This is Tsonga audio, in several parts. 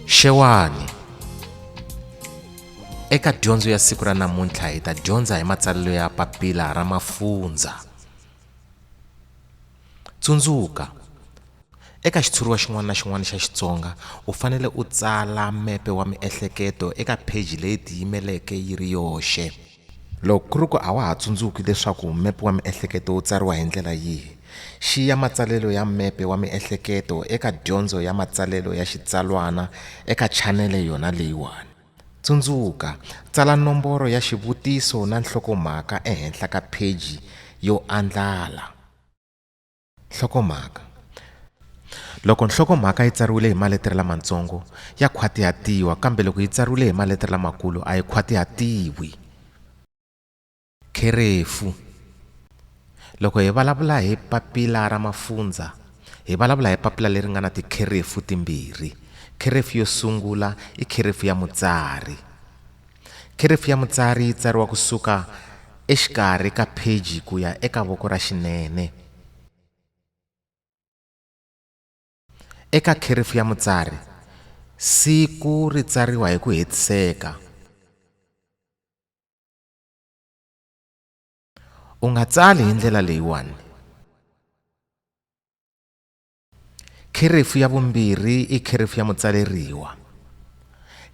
xewani eka dyondzo ya siku ra namuntlha hi ta dyondza hi matsalelo ya papila ra mafunza tsundzuka eka xitshuriwa xin'wana na xin'wana xa xitsonga u fanele u tsala mepe wa miehleketo eka pheji leyi tiyimeleke yi ri yoxe Loko ku ri ku a wa ha tsundzuki leswaku mepe wa miehleketo wu tsariwa hi ndlela yihi, xiya matsalelo ya mepe wa miehleketo eka Dyondzo ya Matsalelo ya Xitsalwana eka chanele yona leyiwani. Tsundzuka, tsala nomboro ya xivutiso na nhlokomhaka ehenhla ka pheji yo andlala. Nhlokomhaka Loko nhlokomhaka yi tsariwile hi maletere lamatsongo ya khwatihatiwa kambe loko yi tsariwile hi maletere lamakulu a yi khwatihatiwi. Kherefu Loko hi vulavula hi papila ra mafundzha hi vulavula hi papila leri nga na tikherefu timbirhi. Kherefu yo sungula i kherefu ya mutsari. Kherefu ya mutsari yi tsariwa ku suka exikarhi ka pheji ku ya eka voko ra xinene. Eka kherefu ya mutsari, siku ri tsariwa hi ku hetiseka. U nga tsali hi ndlela leyiwani. Kherefu ya vumbirhi i kherefu ya mutsaleriwa.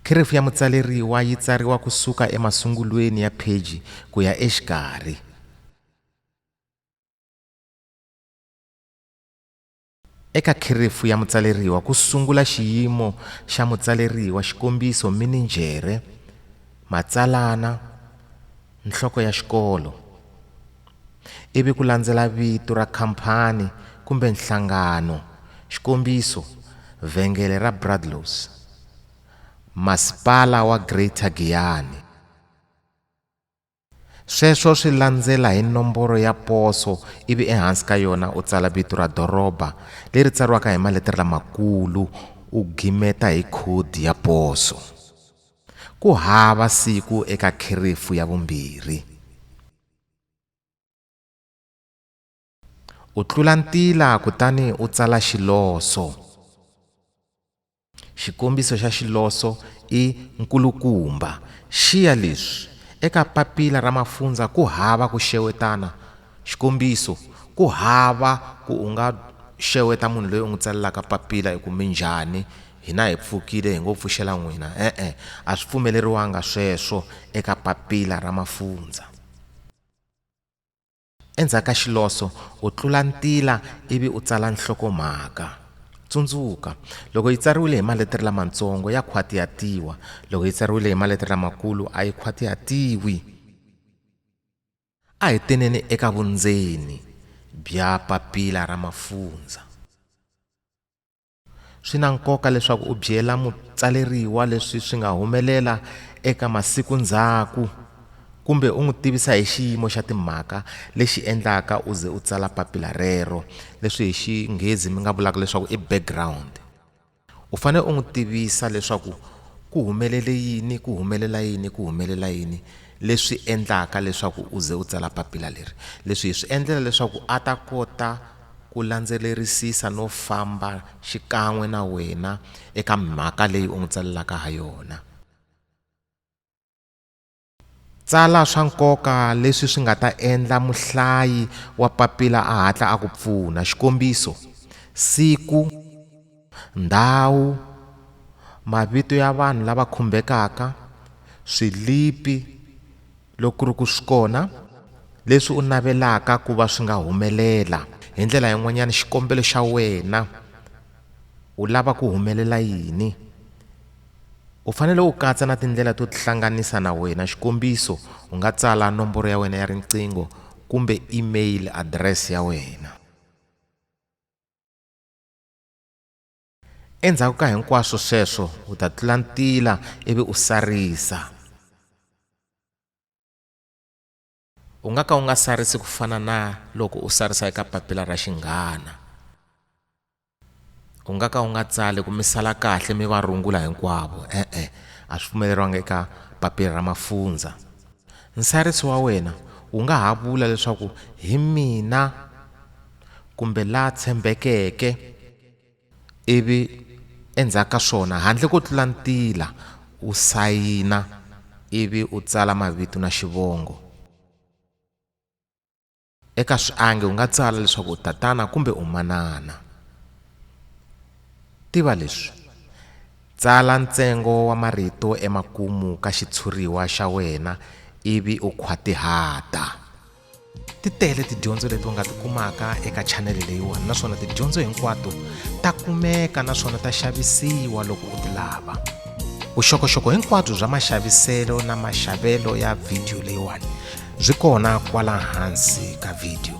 Kherefu ya mutsaleriwa yi tsariwa ku suka emasungulweni ya pheji ku ya exikarhi. Eka kherefu ya mutsaleriwa ku sungula xiyimo xa mutsaleriwa, xikombiso, mininjhere, matsalana, nhloko ya xikolo. ivi ku landzela vito ra khamphani kumbe nhlangano, xikombiso, Vhengele ra Bradlows, Masipala wa Greater Giyani. Sweswo swi landzela hi nomboro ya poso ivi ehansi ka yona u tsala vito ra doroba leri tsariwaka hi maletere lamakulu u gimeta hi khodi ya poso. Ku hava siku eka kherefu ya vumbirhi. u tlula ntila kutani u tsala xiloso xikombiso xa xiloso i nkulukumba xiya leswi eka papila ra mafundzha ku hava ku xewetana xikombiso ku hava ku u nga xeweta munhu loyi u n'wi tsalelaka papila hi ku minjhani Hina hi pfukile hi ngo pfuxela n'wina. E-e, a swi pfumeleriwanga sweswo eka Papila ra Mafundzha. Endzhaku ka xiloso, u tlula ntila ivi u tsala nhlokomhaka. Tsundzuka, loko yi tsariwile hi maletere lamatsongo ya khwatihatiwa, loko yi tsariwile hi maletere lamakulu a yi khwatihatiwi. A hi teneni eka vundzeni bya Papila ra Mafundzha. Swi na nkoka leswaku u byela mutsaleriwa leswi swi nga humelela eka masiku ndzhaku kumbe u n'wi tivisa hi xiyimo xa timhaka lexi endlaka u ze u tsala papila rero leswi hi xinghezi mi nga vulaka leswaku i background u fanele u n'wi tivisa leswaku ku humelele yini ku humelela yini ku humelela yini leswi endlaka leswaku u ze u tsala papila leri leswi hi swi endlela leswaku a ta kota ku landzelerisisa no famba xikan'we na wena eka mhaka leyi u n'wi tsalelaka ha yona. Tsala swa nkoka leswi swi nga ta endla muhlayi wa papila a hatla a ku pfuna, xikombiso, siku, Ndhawu, Mavito ya vanhu lava khumbekaka, swilipi, loko ku ri ku swi kona, leswi u navelaka ku va swi nga humelela. Hi ndlela yin'wanyana, xikombelo xa wena, u lava ku humelela yini? U fanele u katsa na tindlela to tihlanganisa na wena, xikombiso, u nga tsala nomboro ya wena ya riqingho kumbe e-mail address ya wena. Endzhaku ka hinkwaswo sweswo u ta tlula ntila ivi u sarisa. U nga ka u nga sarisi ku fana na loko u sarisa eka papila ra xinghana. U nga ka u nga tsali ku mi sala kahle mi va rungula hinkwavo e-e a swi pfumeleriwanga eka papila ra mafundzha. Nsarisi wa wena wu nga ha vula leswaku hi mina. kumbe la tshembekeke, ivi endzhaku ka swona handle ko tlula ntila u sayina ivi u tsala mavito na xivongo. Eka swiangi u nga tsala leswaku u tatana kumbe u manana. Tiva leswi, Tsala ntsengo wa marito emakumu ka xitshuriwa xa wena ivi u khwatihata. ti tele tidyondzo leti u nga ti kumaka eka chanele leyiwani naswona tidyondzo hinkwato ta kumeka naswona ta xavisiwa loko u ti lava vuxokoxoko hinkwabyo bya maxaviselo na maxavelo ya vhidiyo leyiwani byi kona kwala hansi ka vhidiyo